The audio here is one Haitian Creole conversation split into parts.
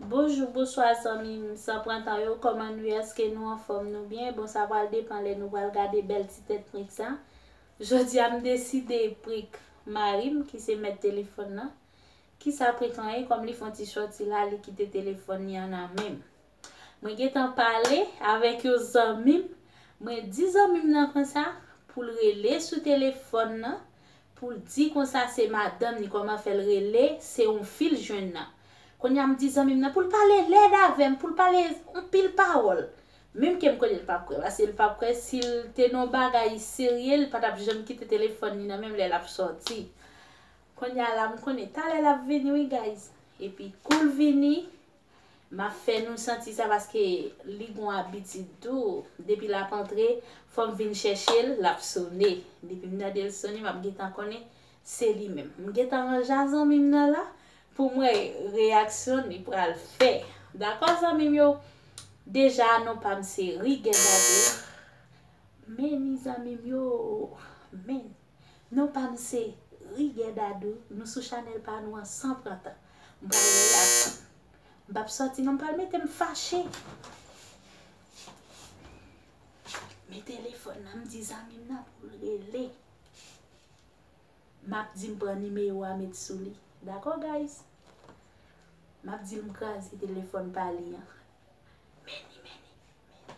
Bonjou bonswa zanmim san pran tan yo koman nou ye eske nou anfom nou byen bon sa pral depan lè nou pral gade bèl ti tèt prik sa jodia m deside prik marim ki se mèt telefòn nan kisa prik lan ye kòm li fon ti sòti la li kite telefòn li an nan menm. Mwen gentan pale avèk yon zanmi m, mwen di zanmi m nan konsa pou l rele sou telefòn nan pou l di konsa se madanm ni kòman fè l rele se yon fi l jwenn nan. Kounye a m di zanmi m nan pou l pale lèd avè m, pou l pale anpil pawòl. Menm ke m konnen l pap kwè paske l pap kwè si l te nan yon bagay serye l pa t ap janm kite telefòn li nan men m lè l ap sòti. Kounye a la m konnen talè l ap vini wi guys. Epi kou l vini, Map fè nou santi sa paske li gon abitid tou depi lap antre fòm vin chèchel lap sone depim tandel sone map gentan konnen se li menm m gentan ranja zanmim nan la poum wè reyaksyon li pral fè dakò zanmim yo deja non pam se Rigue Daddy meni zanmim yo meni. Non pam se Riguè Dadou nou sou chanèl pa nou an san pran tan m pral ri ak fanm m pap sòti non m pral mete m fache men telefòn nan m di zanmim nan poul rele map di m pran nimewo a met sou li dakò guys map dil m kraze telefòn pa li an meni meni meni.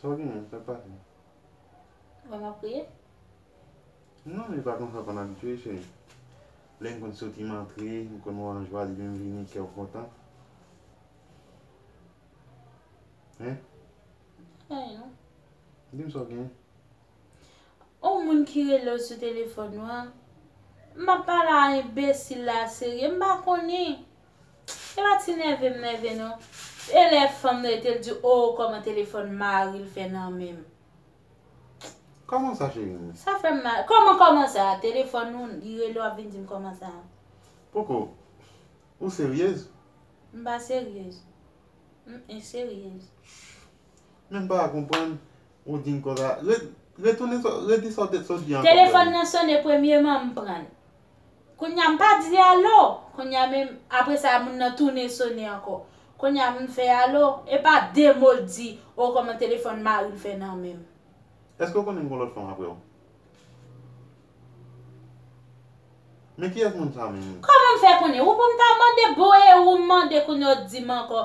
Sa w genyen? Sa k pase? Wè m ap kriye? Non, men e pa konsa w konn abitye, cheri. Lè n konn soti, m antre, m konn wè w an jwa, depi m vini, kè w kontan. Hein? Anyen non. Di m sa w genyen? On moun ki rele w sou telefòn ou an. M ap pale a enbesil la a serye, m pa konnen. E pa ti nève m nève non. E lè fanm nan rete l di oo kòman telefòn mari l fè nan men m. Kòman sa cheri m? Sa fè m mal. Kòman kòman sa? Telefòn ou li rele w ap vin di m kòman sa. Koko, ou seryez? M pa seryez. M enseryez. Men m pa konprann, ou di m konsa. Retounen sa w, redi sa w te di ankò frè m. Telefòn nan sone premyeman m pran l. Kounye a m pa di alo! Kounye a men, apre sa moun nan tounen sone ankò. Kounye a m fè alo, e pa de mo l di, o kòman telefòn mari m fè nan men m. Èske w konnen m gen yon lòt fanm apre w? Men kiyès moun sa menm? Kòman m fè konnen? Ou pou m ta mande bon e ou m mande kounye a w di m ankò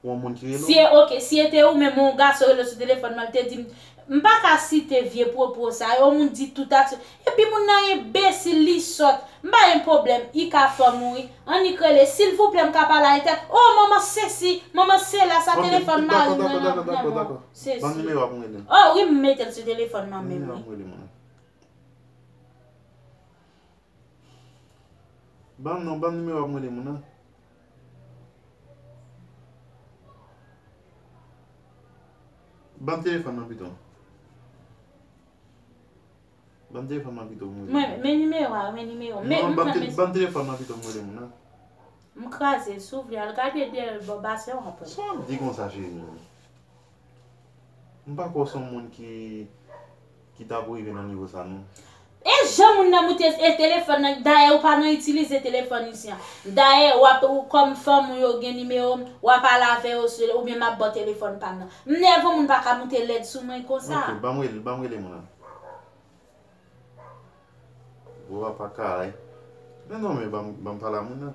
pou yon moun ki rele w? Si ok, si ete ou menm yon gason rele w sou telefòn mwen, li te di m, m pa ka site vye pwopo sa yo, yon moun di tout a tout, epi moun nan enbesil, li sòt, m pa gen pwoblèm, i ka fanm ou wi, annik rele, silvouplè m ka pale a entèl, oh manman sesi, manman sela, sa telefòn mari mwen nan nan men w, sesi. Banm nimewo a pou m rele l. Oh wi m mete l sou telefòn mwen menm wi. Banm nimewo a pou m rele moun nan. Banm non, banm nimewo a pou m rele moun nan. Banm telefòn nan pito. Banm telefòn nan pito m rele moun nan. Men nimewo a, men nimewo. Non, banm telefòn nan pito m rele moun nan. M kraze, si w vle al gade dèyè l bò basè w ap wè. Sa w ap di konsa cheri m? M pa kwè w son moun ki Ki ta pou rive nan nivo sa non. E jan moun nan moute e telefòn nan dayè ou pa nan itilize telefòn isi an dayè wap ou kòm fanm ou yo gen nimero m wa pale avè yo sou oubyen map baw telefòn pam nan m nève w moun pa ka moute lèd sou mwen konsa. Ok banm rele banm rele moun nan. Gwo apa karay. Men non men banm banm pale a moun nan.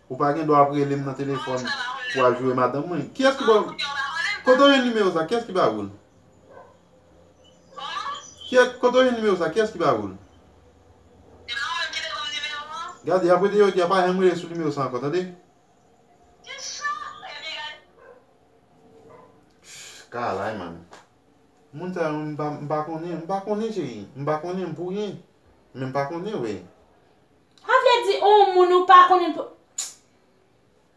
Ou pa gen dwa ap rele m nan telefòn pou al joure madanm mwen. Kiyès ki ba ou? Kote ou jwenn nimewo sa? Kiyès ki ba ou l? Kote ou jwenn nimewo sa? Kiyès ki ba ou l? Gade, apre de jodi a pa janm rele sou nimewo sa ankò, tande? Kalay man. Moun sa yo m pa konnen, m pa konnen cheri. M pa konnen pou ryen. Men m pa konnen vre. Sa vle di on moun ou pa konnen pou.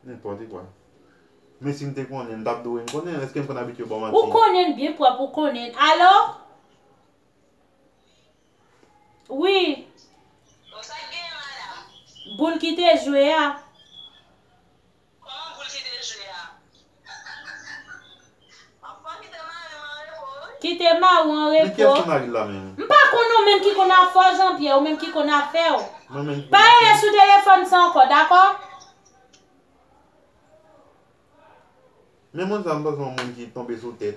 Nenpòte kwa. Men si m te konnen, m tap dwe. M konnen l, eske m konn abitye baw manti? Ou konnen l byen pwòp ou konnen l. Alo? Wi. Bon sa k genyen madam? Boul ki te jwe a. Koman poul kite jwe a. Anfan kite mari m anrepo wi. Kite mari w anrepo. Men kiyès ki mari l la menm. M pa konn ou menm ki konn afè w Jean Pierre ou menm ki konn afè w. Mwen menm ki konn afè m. Pa rele sou telefòn sa ankò dakò. Men moun sa m panse yon moun ki tonbe sou tèt.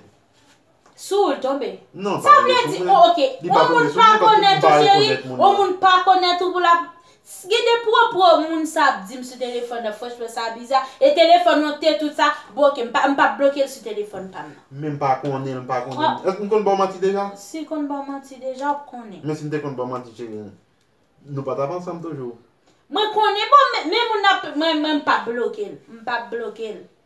Sou ou l tonbe? Non, pa tonbe sou mwen. Sa vle di, ok, yon moun pa konèt ou cheri, yon moun pa konèt ou pou l ap, gen de pwopwo moun sa ap di m sou telefòn nan franchman sa biza, e telefòn ou an te tout sa, bon ok, m pa ap bloke l sou telefòn pa m nan. Men m pa konnen l, m pa konnen l. Èske m konn ba w manti deja? Si m konn ba w manti deja, w ap konnen. Men si m te konn ba w manti cheri, nou pa t ap ansanm toujou. Mwen konnen, bon men moun nan, mwen m pa ap bloke l, m pa ap bloke l.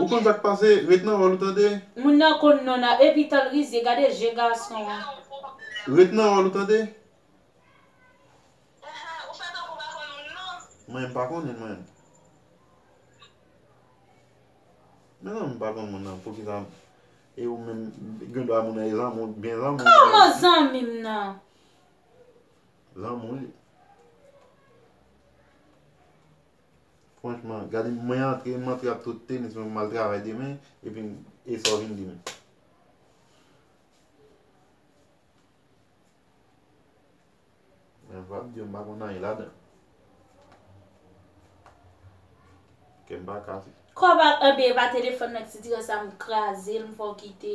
Ou konn sak pase ret nan wòl ou tande. Moun nan konn non nan epi tanl rizye gade je gason an. Ret nan wòl ou tande. Mwen pa konn li mwen. Mezanmi pa konn moun nan poukisa e ou menm gen dwa moun nan e zanmi ou byen zanmi ou. Kòman zanmi m nan. Lanmou li. Franchman, gade mwen antre, mwen antre ak tout tenis mwen mal travay demen, epi e sa w vin di m. Mwen vap di yo m pa konn anyen ladan. Kè m pa kase. Kò pa m anben e pa telefòn nan ki dire sa m kraze l m fè w kite.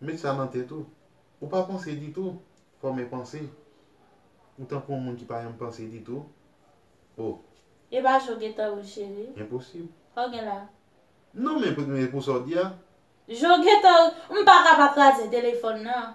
Met sa nan tèt ou, ou pa panse ditou, fòme panse. Ou tankou yon moun ki pa janm panse ditou. O. E pa je w gen tan wi cheri. Enposib. Sa w gen la? Non men pou sa w di a. Je w gen tan wi. M pa ka pa kraze telefòn nan.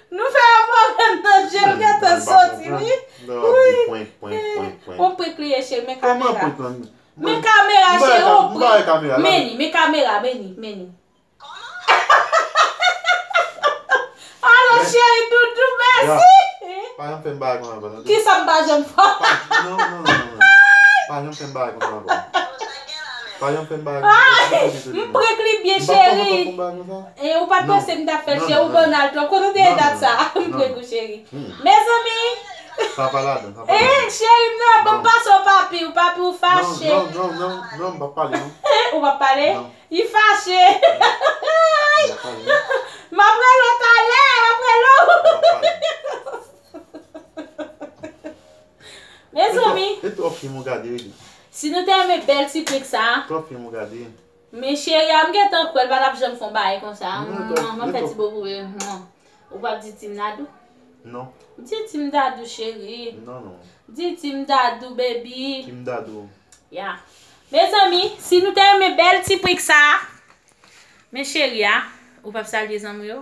Nou fè yon pwoblèm nan je m gentan soti wi Ui On prank li ye cheri men kamera Men kamera cheri on prank Men li men kamera men li men li Alo cheri doudou mèsi Kisa m pa janm fè Ui M prank li byen cheri Anh ou pat panse m tap fèl cheri ou banal twòp kote w te ye dat sa m preg ou cheri mezanmi anh cheri m nan banm pase w papi w papi w fache anh ou pap pale li fache anh map rele w talè map rele w mezanmi si nou te renmen bèl ti prank sa. Men cheri a m gentan kwèl pa tap janm fon bagay konsa mwah map fè ti bo pou li mwah ou pap di team dadou non di team dadou cheri non non di team dadou baby team dadou ya mezanmi si nou te renmen bèl ti prank sa men cheri a ou pap salye zanmi yo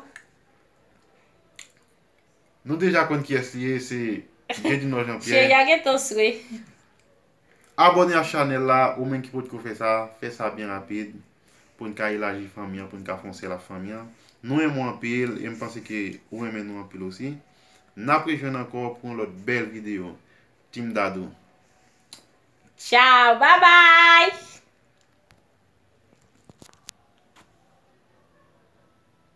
nou deja konn kiyès li ye se Jedinò Janpyè cheri a gentan swe. Abòne a chanèl la ou menm ki potko fè sa, fè sa byen rapid poun ka elaji fanmi an poun ka fè yon sèl ak fanmi an. Nou renmen w anpil e m panse ke ou renmen nou anpil osi. Nap rejwenn ankò pou yon lòt bèl videyo. Team Dadou. Ciao bye bye.